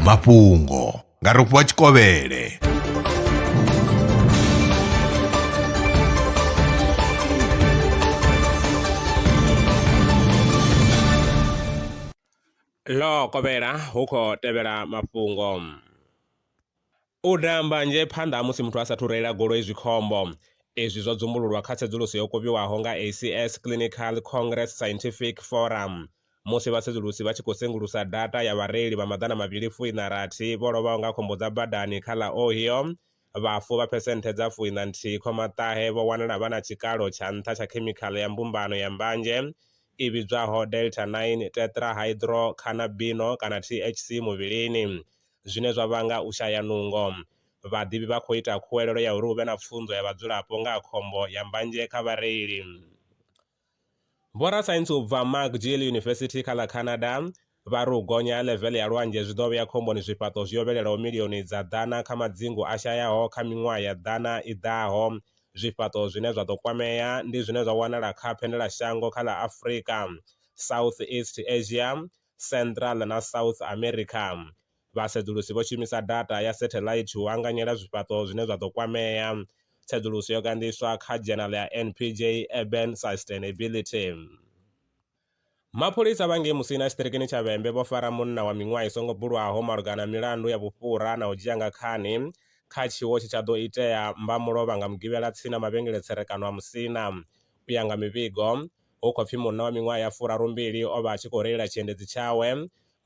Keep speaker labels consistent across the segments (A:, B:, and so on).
A: mafhungo nga rofhiwa tshikovhele
B: ḽo kovhela hu khou tevhela mafhungo U daha mbanzhe phanḓa ha musi muthu a sa athu reila goloi zwi khombo. Izwi zwo dzumbululwa kha tsedzuluso yo kovhiwaho nga ACS Clinical Congress Scientific Forum musi vhasedzulusi vha tshi khou sengulusa data ya vhareili vha maḓana mavhili fu iṋa rathi vho lovhaho nga khombo dza badani kha ḽa Ohio. Vhafu vha phesenthe dza fu iṋa nthihi khoma ṱahe vho wanala vha na tshikalo tsha nṱha tsha khemikhaḽa ya mbumbano ya mbanzhe i vhidzwaho delta-9 tetrahydrocannabino kana THC muvhilini. zwine zwa vhanga u shaya nungo. Vhaḓivhi vha khou ita khuwelelo ya uri hu vhe na pfunzo ya vhadzulapo nga ha khombo ya mbanzhe kha vhareili. Vhorasaintsi u bva McGill University kha ḽa Canada vha ri u gonya ha ḽeveḽe ya lwanzhe zwi ḓo vhea khomboni zwifhaṱo zwi yovhelelaho milioni dza ḓana kha madzingu a shayaho kha miṅwaha ya ḓana i ḓaho. Zwifhaṱo zwine zwa ḓo kwamea ndi zwine zwa wanala kha Phendelashango kha ḽa Afrika, Southeast Asia, Central na South America. Vhasedzulusi vho shumisa data ya setheḽaithi u anganyela zwifhaṱo zwine zwa ḓo kwamea. Tsedzuluso yo ganḓiswa kha dzhenala ya NPJ Urban Sustainability. Mapholisa vha ngei Musina tshiṱirikini tsha Vhembe vho fara munna wa miṅwaha i songo bulwaho malugana na milandu ya vhufhura na u dzhia nga khani kha tshiwo tshe tsha ḓo itea mbamulovha nga Mugivhela tsini na mavhengele-tserekano a Musina. U ya nga mivhigo, Hu khou pfi munna wa miṅwaha ya furarumbili o vha a tshi khou reila tshiendedzi tshawe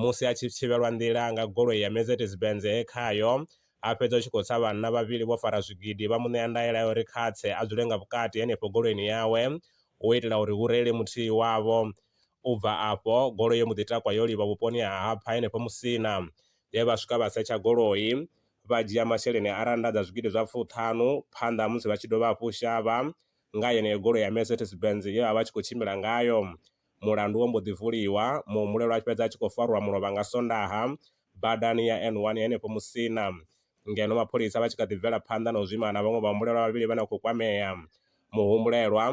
B: musi a tshi thivhelwa nḓila nga goloi ya Mercedes-Benz he khayo a fhedza u tshi khou tsa vhanna vhavhili vho fara zwigidi vha mu ṋea ndaela ya uri kha tse a dzule nga vhukati henefho goloini yawe u itela uri hu reile muthihi wavho. U bva afho, goloi yo mbo ḓi takwa yo livha vhuponi ha Hapha henefho Musina. He vha swika vha setsha goloi, vha dzhia masheleni a rannda dza zwigidi zwa fuṱhanu phanḓa ha musi vha tshi dovha hafhu u shavha nga yeneyo goloi ya Mercedes Benz ye a vha a tshi khou tshimbila ngayo. Mulandu wo mbo ḓi vuliwa, muhumbulelwa a fhedza a tshi khou farwa mulovha nga Sondaha badani ya N1 ya henefho Musina, ngeno mapholisa vha tshi kha ḓi bvela phanḓa na u zwima na vhaṅwe vhahumbulelwa vhavhili vhane vha khou kwamea. Muhumbulelwa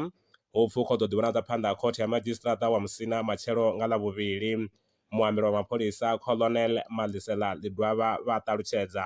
B: hupfi u khou ḓo ḓivhonadza phanḓa ha khothe ya madzhisiṱiraṱa wa Musina matshelo nga Ḽavhuvhili, muambeli wa mapholisa Colonel Madlisela Ḽidwaba vha a ṱalutshedza.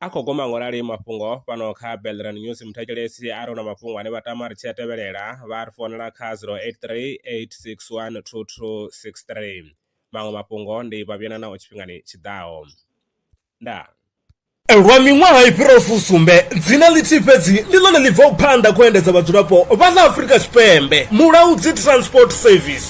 B: A khou guma nga u rali mafhungo fhano kha Belran News. Muthetshelesi a ri hu na mafhungo ane vha tama ri tshi a tevhelela, vha a ri founela kha 0838612263. Maṅwe mafhungo ndi Vhavhiyana Naho Tshifhingani Tshi Ḓaho. Ndaa.
C: Lwa miṅwaha i fhiraho fusumbe, dzina ḽithihi fhedzi ndi ḽone ḽi bvaho phanḓa kha u endedza vhadzulapo vha ḽa Afrika Tshipembe, Mulaudzi Transport Service.